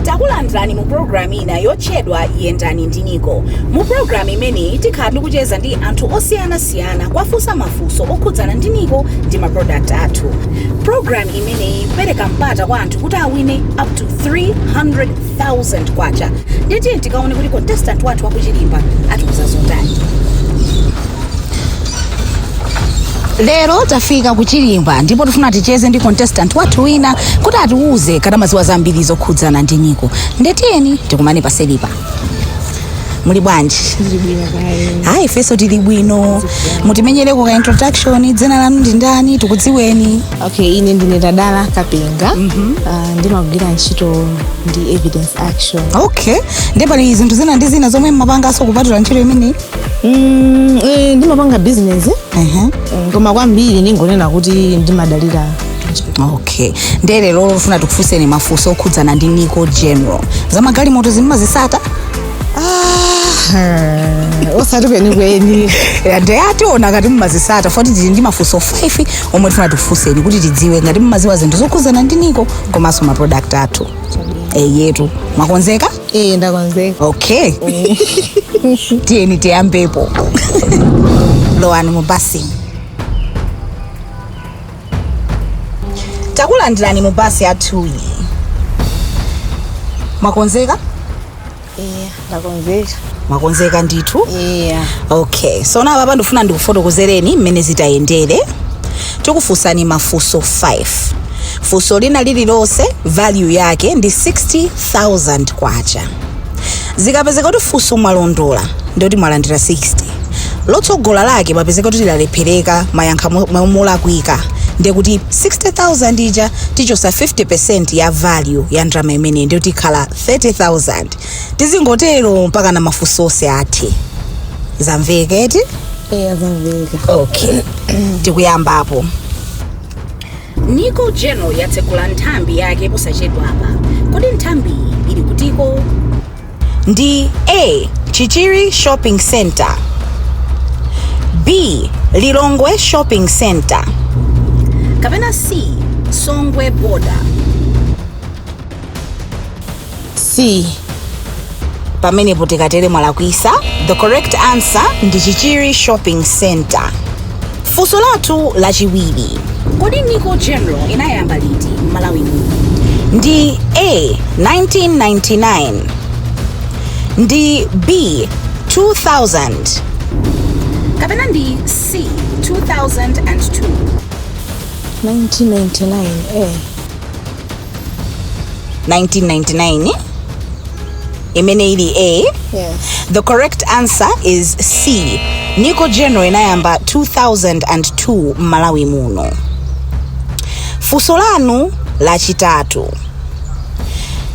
takulandirani mu programu ina yotchedwa yendani ndi niko mu programu imeneyi tikhala tikucheza ndi anthu osiyanasiyana kuwafunsa mafunso okhudzana ndi niko ndi maprodakti athu programu imeneyi ipereka mpata kwa anthu kuti awine up to 300,000 kwacha ndiye tiye tikaone kuti contestant wathu wakuchilimba atiuza zotani lero tafika kuchilimba ndipo tifuna ticheze ndi contestant wathu wina kuti atiuze ngati amaziwa zambiri zokhudzana ndi niko nde tiyeni tikumane pa setipa muli bwanji ayi ifenso tili bwino mutimenyereko ka introduction dzina lanu ndi ndani tikudziweni okay ine ndine tadala kapenga Ah, ndimagwira ntchito ndi evidence action okay nde pali zinthu zina ndi zina zomwe mmapanganso kupatula ntchito imeneyi Mm, eh, ndimapanga business Ehe. Mm, koma kwambiri ndingonena kuti ndimadalira ntchito. okay nde lero tifuna tikufunseni mafunso okhudzana ndi nico general zamagalimoto zimmazisata Ah, osati kwenikweni nde tiona ngati mumazisata foti tili ndi mafunso 5 omwe tifuna tikufunseni kuti tidziwe ngati mumaziwa zinthu zokhudzana ndi niko komanso maproduct athu eyetu mwakonzeka ee ndakonzeka okay tiyeni tiyambepo lowani mu basi takulandirani mu basi yathuyi mwakonzeka Eya, ndakonzeka. mwakonzeka ndithu Eya. okay so now apapa ndifuna ndikufotokozereni mmene zitayendere tikufunsani mafunso 5 funso lina lililonse value yake ndi 60000 kwacha zikapezeka kuti funso mwalondola ndekuti mwalandira 60 lotsogola lake kapezeka kuti lalephereka mayankha mo- mo- molakwika ndekuti 60000 ija tichosa 50 ya value ya ndalama imeneyi ndekuti ikhala 30000 tizingotero mpaka na mafunso onse athe zamveka eti eya zamveka okay tikuyambapo niko general yatsegula nthambi yake posachedwapa kodi nthambiyi ili kutiko ndi a chichiri shopping center b lilongwe shopping center kapena c songwe border c pamenepo tikatere mwalakwisa the correct answer ndi chichiri shopping center funso lathu lachiwiri kodi nico general inayamba liti m'malawi muno ndi a 1999 ndi b 2000 kapena ndi c 2002 1999 eh 1999 imene ili a yes. the correct answer is c nico general inayamba 2002 m'malawi muno funso lanu lachitatu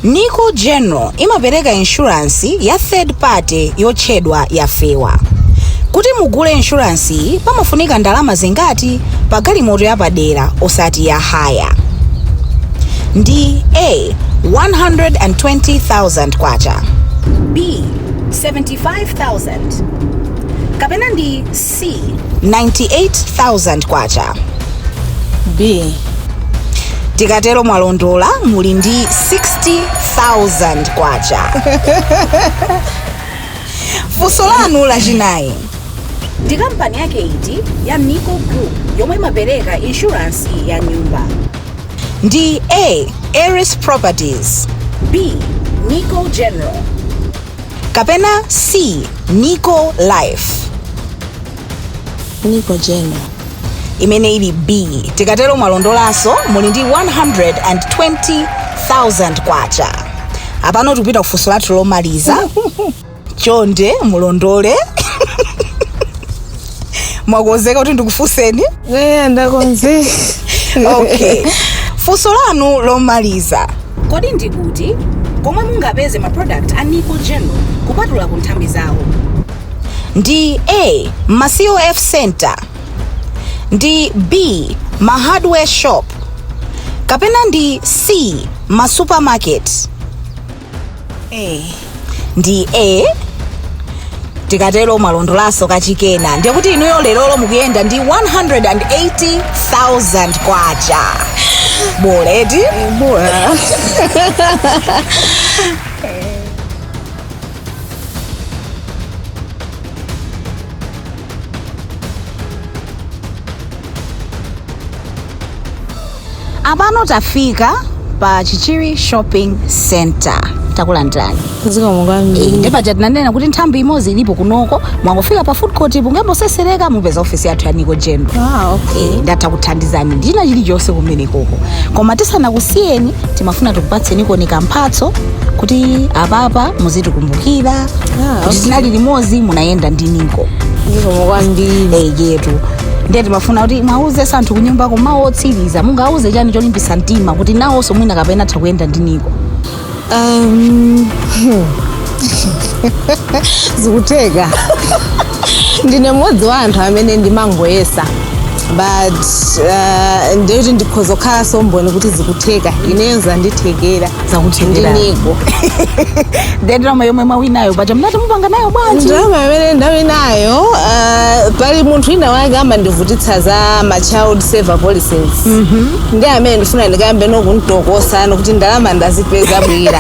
nico general imapereka inshuransi ya third party yotchedwa yafewa kuti mugule inshuransi iyi pamafunika ndalama zingati pa galimoto yapadera osati ya haya ndi a 120,000 kwacha b 75,000 kapena ndi c 98,000 kwacha b tikatero mwalondola muli ndi 60,000 kwacha funso lanu lachinayi Ndi kampani yake iti ya NICO Group yomwe imapereka inshuransi ya nyumba? Ndi A. Eris Properties. B. NICO General. Kapena C. NICO Life. NICO General. imene ili b tikatero mwalondolanso muli ndi 120,000 kwacha apano tikupita kufunso lathu lomaliza chonde mulondole mwakonzeka kuti ndikufunseni eya ndakonzeka okay funso lanu lomaliza kodi ndi kuti komwe mungapeze ma product a nico general kupatula ku nthambi zawo ndi a ma cof center ndi b ma hardware shop kapena ndi c ma supermarket ndi a tikatero mwalondolaso kachikena ndiye kuti inuyo lerolo mukuyenda ndi 180,000 kwacha bola eti bola apano tafika pa chichiri shopping center takulandirani zikomo kwambiri ndi paja tinanena kuti nthambi imodzi ilipo kunoko mwangofika pa food court mungangotsetsereka mupeza ofisi yathu ya niko general ah, okay. Eh, ndi atha kuthandizani ndina chilichonse kumenekoko koma tisanakusiyeni timafuna tikupatsenikoni kamphatso kuti apapa muzitikumbukira kuti tinali limodzi munayenda ndi niko zikomo kwambiri eyetu ndiye timafuna kuti muwauzenso anthu kunyumba koma mawu otsiriza mungauze chani cholimbitsa mtima kuti nawonso mwina kapena atha kuyenda ndi niko Um, zikutheka ndine mmodzi wa anthu amene ndimangoyesa but uh, ndi woti ndikhoza kukhalanso mboni kuti zikutheka ineyo zanditheka zakuthekera ndi niko nde ndalama yomwe mwawinayo paja mnati mupanga nayo bwanji ndalama imene ndawinayo uh, pali munthu wina wake amandivutitsa za ma child saver policies ndi amene ndifuna ndikayambe nomutokosa kuti ndalama ndazipeza bwira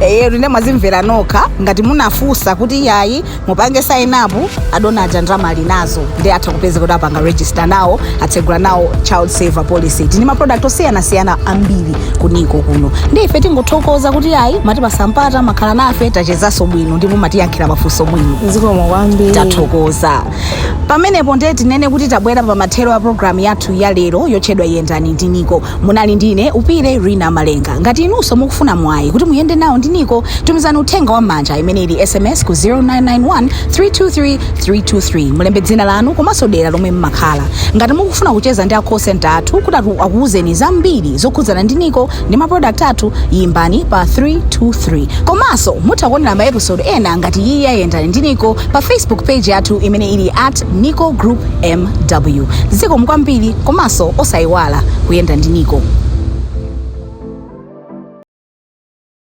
eyetu nde mwazimvera nokha ngati munafunsa kuti yayi mupange sign up adona aja ndalama ali nazo nde atha kupeza kuti apanga register nawo atsegula nawo child saver policy tili ndi ma product osiyanasiyana ambiri ku niko kuno nde ife tingothokoza kuti ayi mwatipatsa mpata mwakhala nafe tachezanso bwino ndipo mwatiyankhira mafunso bwino zikomo kwambiri tathokoza pamenepo ndiye tinene kuti tabwera pa mathero a programu yathu ya lero yotchedwa yendani ndi niko munali ndine Upile rina malenga ngati inunso mukufuna mwayi kuti muyende nawo ndi niko tumizani uthenga wa mmanja imene ili sms ku 0991 323 323 mulembe dzina lanu komanso dera lomwe mmakhala ngati mukufuna kucheza ndi a call center athu kuti atu- akuwuzeni zambiri zokhudzana ndi niko ndi maprodakt athu yimbani pa 323 komanso mutha kuonera maepisode ena ngati iyi ya yendani ndi niko pa facebook page yathu imene ili at Nico Group MW. Zikomo kwambiri komanso osayiwala kuyenda ndi Nico.